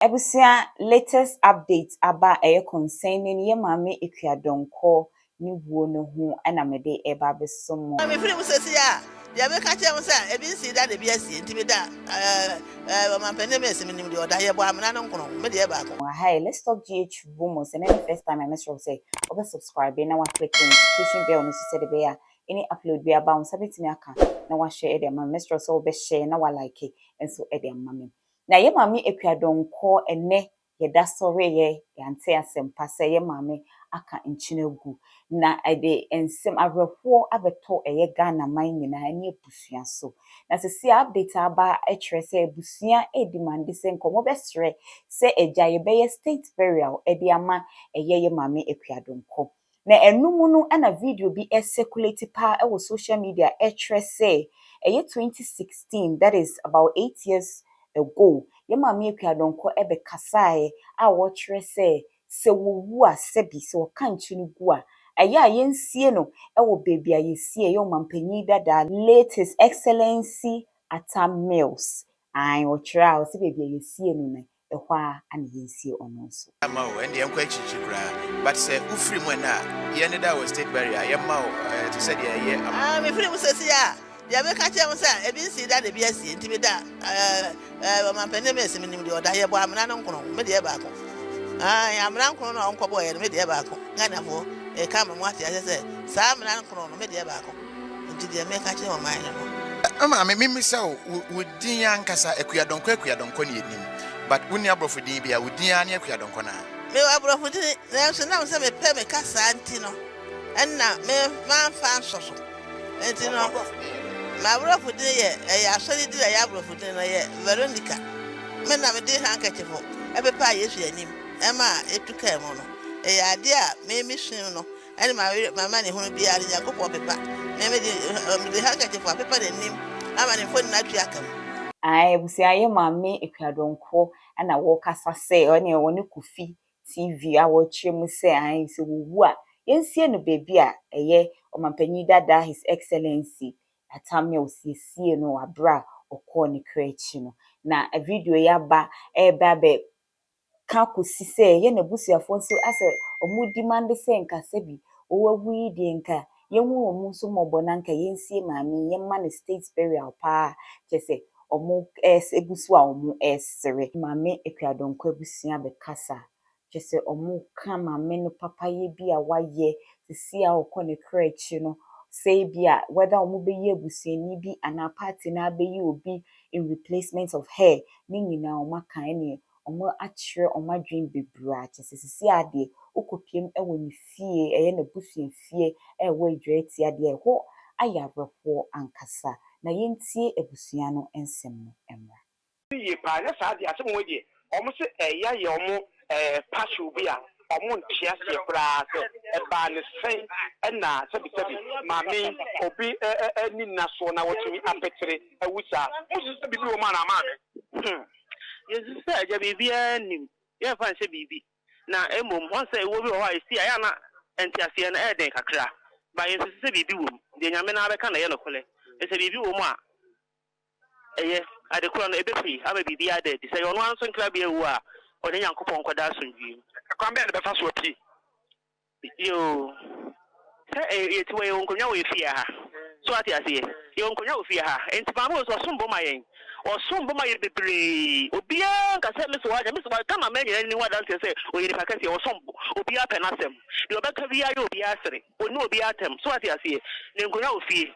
Abusua latest update aba a ɛyɛ concerning yɛ maame Akua Donkor ne wuo no ho na me de reba abɛsɔ mo. Me firi mu sesie a, deɛ me ka kyerɛ mo sɛ, ebi nsii da na ebi asie, nti me da eh, Ɔmanpanin Macy, me nim deɛ ɔda, yɛ bɔ amena no nkono, me deɛ baako. Aha yɛ Let's Talk GH wɔ mu, sɛ nɛ ne first time a mɛsrɛ wo sɛ wo bɛ subscribe na wa click notification bell no nso sɛ de bɛ yɛ a any upload bia ba wo nsa bɛtumi aka na wa hwɛ de ama me, mɛsrɛ wo sɛ wo bɛ share na wa like nso de ama me. Na yɛ Maame Akua Donkor ɛnɛ yɛ da so reyɛ yɛante asɛmpa sɛ yɛ Maame aka nkyen agu na ɛde nsɛm awerɛhoɔ abɛtɔ ɛyɛ Ghana man nyinaa ne abusua so. Na sɛsei a update a aba kyerɛ sɛ abusua redemande sɛ nka wɔbɛsrɛ sɛ agya yɛbɛyɛ state burial de ama ɛyɛ yɛ Maame Akua Donkor. Na ɛno mu no na video bi circulate paa wɔ social media a ɛkyerɛ sɛ ɛyɛ twenty sixteen that is about eight years ago yɛn Maame Akua Donkor bɛkasaeɛ a ɔkyerɛ sɛ sɛ wɔwu a sɛbi sɛ wɔka nkye no gu a ɛyɛ a yɛnsie no wɔ baabi a yɛsie ɛyɛ Ɔmanpanin dada late His Excellency Atta Mills ae ɔkyerɛ a ɔse baabi a yɛsie no no ɛhɔ ara na yɛnsie ɔno nso. Ama o, ɛnde yɛnkɔ akyirikyiri koraa, but sɛ wofiri mu ɛnnɛ a, yɛnneda wɔ State Barrier a, yɛmma wo te sɛ deɛ ɛyɛ ama. Ah, mefiri mu seesei a, deɛ meka kyerɛ mo sɛ, ebi nsii da na ebi asie, nti meda eh, Ɔmampanin Mills, menim deɛ ɔda, yɛbɔ amena no nkron, me deɛ yɛ baako. Ae, amena nkron no a ɔnkɔbɔeɛ no, me deɛ yɛ baako. Ghanafoɔ, meka ama mo ate aseɛ sɛ, saa amena nkron no, me deɛ yɛ baako. Nti deɛ mɛka akyerɛ ɔman no no. Me maame, memmisa wo wo din ankasa? Akuadɔnkɔ Akuadɔnkɔ ne yɛnim, but wonni aborɔfo din biara, wo din ara ne Akuadɔnkɔ no ara. Mewɔ aborɔfo din, nanso nam sɛ mepɛ me kasaa nti no, ɛnna me mamfa anhyɛ so. Enti no, m'aborɔfo din yɛ, ɛyɛ asɔre din a ɛyɛ aborɔfo din no, ɛyɛ Veronica. Me na mede handkerchief pepaa Yesu anim ma etu kaa mu no. Ɛyɛ adeɛ a me mesuu no Ɛne mawerɛ m'amanehunu biara no Nyankopɔn pepa me mede mede handkerchief apepa n'anim ama ne mfoni no atwe aka mu. Ae abusua yɛ maame akua donkor na wɔrekasa sɛ ɔne ɔne kofi TV a wɔrekyerɛ mu sɛ ae sɛ wɔwu a yɛnsie no baabi a ɛyɛ ɔmampanyin dada his excellency atamia ɔsiesiee no wɔ aberɛ a ɔkɔɔ ne kra akyi no na video yi aba ɛrebɛ abɛ ka kosi sɛ yɛn abusuafoɔ nso asɛ ɔmo dimande sɛ nka sɛbi ɔɔ awu yi deɛ nka yɛn hu ɔmo nso mmɔbɔ na nka yɛn sie maame yi yɛn ma no state burial paa kyɛsɛ ɔmo ɛɛs egu so a ɔmo ɛɛsere. Maame Akuadonko abusua bɛ kasa kyɛsɛ ɔmo ka maame no papa yɛ bi a wayɛ sisi a ɔkɔ ne kra akyi no sɛ ebi a whether ɔmo bɛ yi abusuani bi anaa party no abɛyi obi in replacement of her ne nyinaa ɔmo aka ɛneɛ wɔakyerɛ wɔn adwene bebree a kyerɛ sɛ seesei ara deɛ wokɔpiam wɔ ne fie, ɛyɛ n'abusua fie a ɛwɔ Adwa Atia deɛ ɛhɔ ayɛ awerɛhoɔ ankasa. Na yɛntie abusua no nsɛm no mmra. Yie paa nyɛ saa deɛ asɛm wei deɛ wɔn se ɛya yɛ wɔn passion bi a wɔn nte aseɛ koraa sɛ ɛbaa no sɛn ɛna sɛbi sɛbi maame yi obi ɛni nna soɔ na watumi apetere awu saa mosusu sɛ biribi wɔ mu anaa maame. Hmm. Yesu sɛ agya biribiara nnim, yɛmfa nhyɛ biribi. Na mmom, ɔn sɛ ɛwuo bi wɔ hɔ a ɛsi a, ɛyɛ a na nteaseɛ no ɛyɛ den kakra. But yɛnsusu sɛ biribi wɔ mu. Deɛ Nyame no ara bɛka na ɛyɛ nokorɛ. Ɛfiri sɛ biribi wɔ mu a ɛyɛ. Ade korɔ no, ɛbɛfiri ama biribiara ada adi. Sɛ ɛyɛ ɔno ara nso nkrabea wu a, ɔne Nyankopɔn nkɔda asomdwoeɛ mu. Ɛkwan bɛn na ɛbɛfa so apue? Yo, sɛ yɛte wɔ yɛwɔ nkonwa wɔ yɛ fie ha so wate aseɛ yɛwɔ nkonwa wɔ fie ha nti maame wɔ so ɔsom bo ma yɛn ɔsom bo ma yɛn bebree obiara nka sɛ me so wate me so wate Ghana man nyinaa ni ho adanseɛ sɛ ɔyɛ nipa kɛseɛ ɔsom bo obiara pɛ n'asɛm deɛ ɔbɛka biara yɛ obiara sere ɔnni obiara atɛm so wate aseɛ ne nkonwa wɔ fie.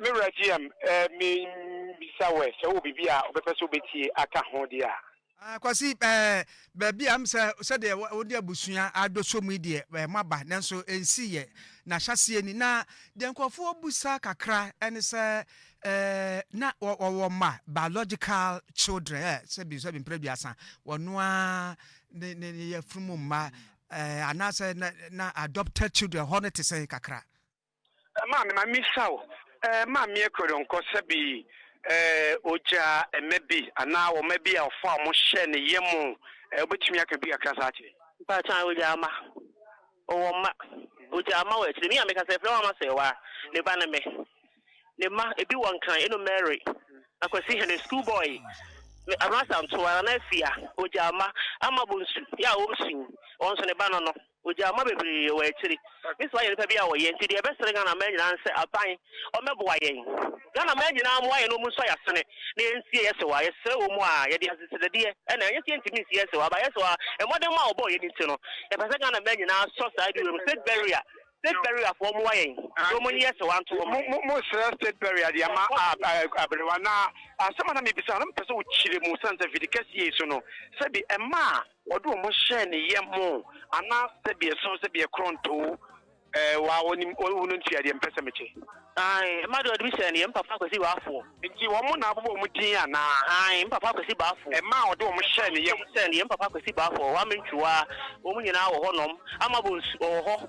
Me wura GM, mebisa wo ɛ, sɛ wowɔ biribi a wobɛpɛ sɛ wobɛtie aka ho deɛ a? Ah, Kwasi, eh, baabi a sɛ sɛdeɛ wode abusua adɔ som yi deɛ, eh, moaba, nanso ɛnsiiɛ. Na hyɛaseɛ ni, na deɛ nkurɔfoɔ bisa kakra ne sɛ, eh, na wɔwɔ mma, biological children, eh, sɛbi sɛbi mprɛduasa, wɔno ara ne, ne, ne yafunu mu mma, eh, anaasɛ na, na adopted children hɔ no te sɛn kakra? Maame, ma memmisa wo, eh, Maame Ekwerenkɔ, sɛ bi, eh, ogyaa mma bi anaa wɔn mma bi a ɔfaa wɔn hyɛɛ ne yam, eh, wobɛtumi aka bi kakra saa akyerɛ yɛn? Mpakyɛ, ae, ogyaa mma. Ɔwɔ mma. Ogyaa mma wɔ akyire. Me a meka sɛ, Yɛfrɛ Wama Serwaa a, ne ba ne me. Ne mma, ebi wɔ Nkran, ɛno Mary, Akwasi Hene, school boy, me, Abrasa Ntoa, Nana Afia, ogyaa mma, Ama Bonsu, yɛ a ɔresu yi, ɔno nso ne ba no no. Ogyaa mma bebree wɔ akyiri. Me nso ayɛ nipa bi a ɔyɛ nti deɛ ɛbɛsrɛ Ghana mmaa nyinaa ne sɛ aban ɔmɛboa yɛn. Ghana mmaa nyinaa mmoa yɛn na ɔmu nso yasene na yɛnsie yɛ sewa. Yɛsrɛ wɔ mu a yɛde asese dadeɛ ɛna ɛnyɛ sɛ yɛntumi nsi yɛ sewa but yɛ sewa mmɔden ma a ɔbɔɔ yɛn nti no yɛpɛ sɛ Ghana mmaa nyinaa sɔ saa bi wɔ mu. State barrier state barrier foɔ mmoa yɛn na ɔmu nyi yɛ sewa nto hɔ. Mo mo srɛ state barrier de ama aberewa na asɛm a na mebisa na mepɛ sɛ wokyerɛ mu sane sɛ vidi kɛseɛ yi so no sɛbi ɛma a Wɔde wɔn hyɛɛ ne yɛ mo, anaa sɛdeɛ ɛsono sɛdeɛ korɔn too wɔ a wɔnim wɔn wu no ntua deɛ mepɛ sɛ mekyɛ. Aane, ɛma deɛ wɔde me hyɛɛ ne yɛ mpafa Kwasi Baafoɔ. Nti wɔn na abobɔ wɔn din anaa? Aane, mpafa Kwasi Baafoɔ. Ɛma a wɔde wɔn hyɛɛ ne yɛ mo. Hyɛɛ ne yɛ mpafa Kwasi Baafoɔ, wɔn ammentwerɛ a, wɔn nyinaa wɔ hɔ nom, ama bɔ nsu, wɔwɔ hɔ.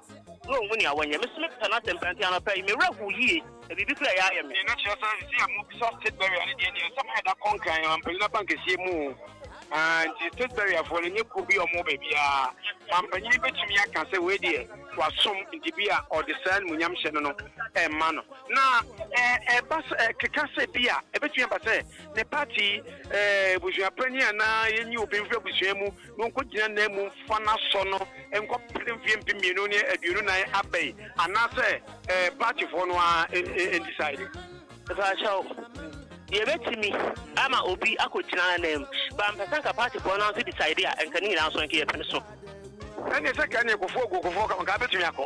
na onhu nea wɔnyɛ. Me nso mepɛ n'asɛm paa, nti anɔpa yi, me werɛ how yie, na biribi koraa reyɛ ayɛ me. Deɛ na kyerɛ sɛ sisi a mobisa state barrier no deɛ deɛ nsɛm ayɛ da kɔnkran wɔ mpanyin abankɛseɛ mu o ah, nti state barrier foɔ no nyɛ kuo bi a wɔwɔ baabiara ma mpanyin bɛtumi aka sɛ wei deɛ wasom nti bi a ɔde saa animuonyamhyɛ no no ɛma no na ɛba sɛ ɛkeka sɛ bi a ɛbɛtumi aba sɛ ne party eh, abusuapanyin anaa yɛnyi obi mfiri abusua mu na ɔnkɔgyina nan mu mfa no asɔ no nkɔpere mfeɛ mpem mmienu ne aduonu nan aba yi anaasɛ ɛɛ paatifoɔ no ara ɛndisaede. Mpakyɛw, yɛbɛtumi ama obi akɔgyina anan mu, but mpɛ sɛ nka paatifoɔ no ara nso disaede a, nka ne nyinaa nso nka yɛpene so. Ɛnneɛ sɛ nka ɛneɛ kɔfoɔ gu kɔfoɔ kama nka abɛtumi akɔ.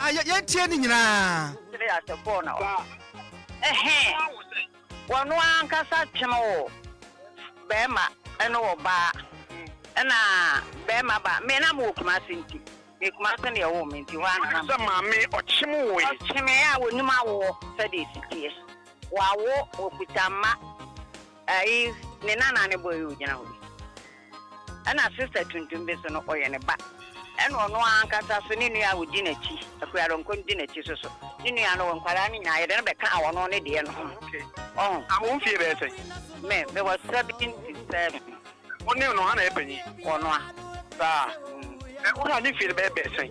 Ah, yɛ- yɛntie ne nyinaa. Sere ase kɔɔ na ɔ. Ɛhɛ, wɔno ankasa twem wo bɛɛma ɛne ɔbaa ɛna bɛɛma ba me na mewɔ kumase nti me kumase na yɛwoo me nti hɔ ara na na Sɛ maame ɔkyem wo e. ɔkyemee a wɔnim awoɔ sɛdeɛ ɛsi teɛ wawo ɔkuta mma ɛyi ne nana ne bɔ yi ɔgyina hɔ yi. Ɛna sister tuntum bi so no ɔyɛ ne ba ɛna ɔno ankasa so ne nua a ɔdi nakyi akuradɔnkɔ no di nakyi so so ne nua no wɔ nkwadaa no nyinaa yɛde no bɛka a ɔno ne deɛ no ho ɔho. Na wo mfie bɛyɛ sɛn? Me me wɔ seventy seven. Wo ne no hwan na yɛ panyin? Ɔnoa. Saa? Wo ne ne mfie no bɛyɛ bɛɛ sɛn?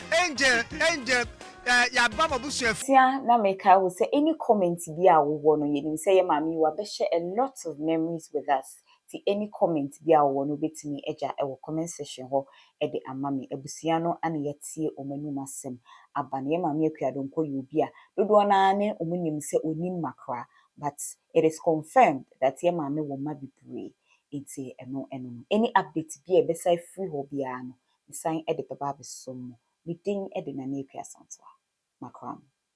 Angel angel eh, yɛaba mo abusua fi. Sia na mekae wo sɛ any comment biaa a wowɔ no yɛnim sɛ yɛ maame yi wabɛhyɛ a lot of memories with us nti any comment biaa a wowɔ no wobɛtumi agya wɔ comment section hɔ de ama me abusua no ana yɛatie wɔn anum asɛm aba no yɛ maame Akua Donkor yɛ obi a dodoɔ no ara ne wɔn nim sɛ ɔnni mma koraa but it is confirmed that yɛ maame wɔ mma bebree nti ɛno ɛno no any update biaa a ɛbɛsan afiri hɔ biaa no Mesan de bɛba abɛsom mo, me din de Nana Akua Asantewaa. Makram.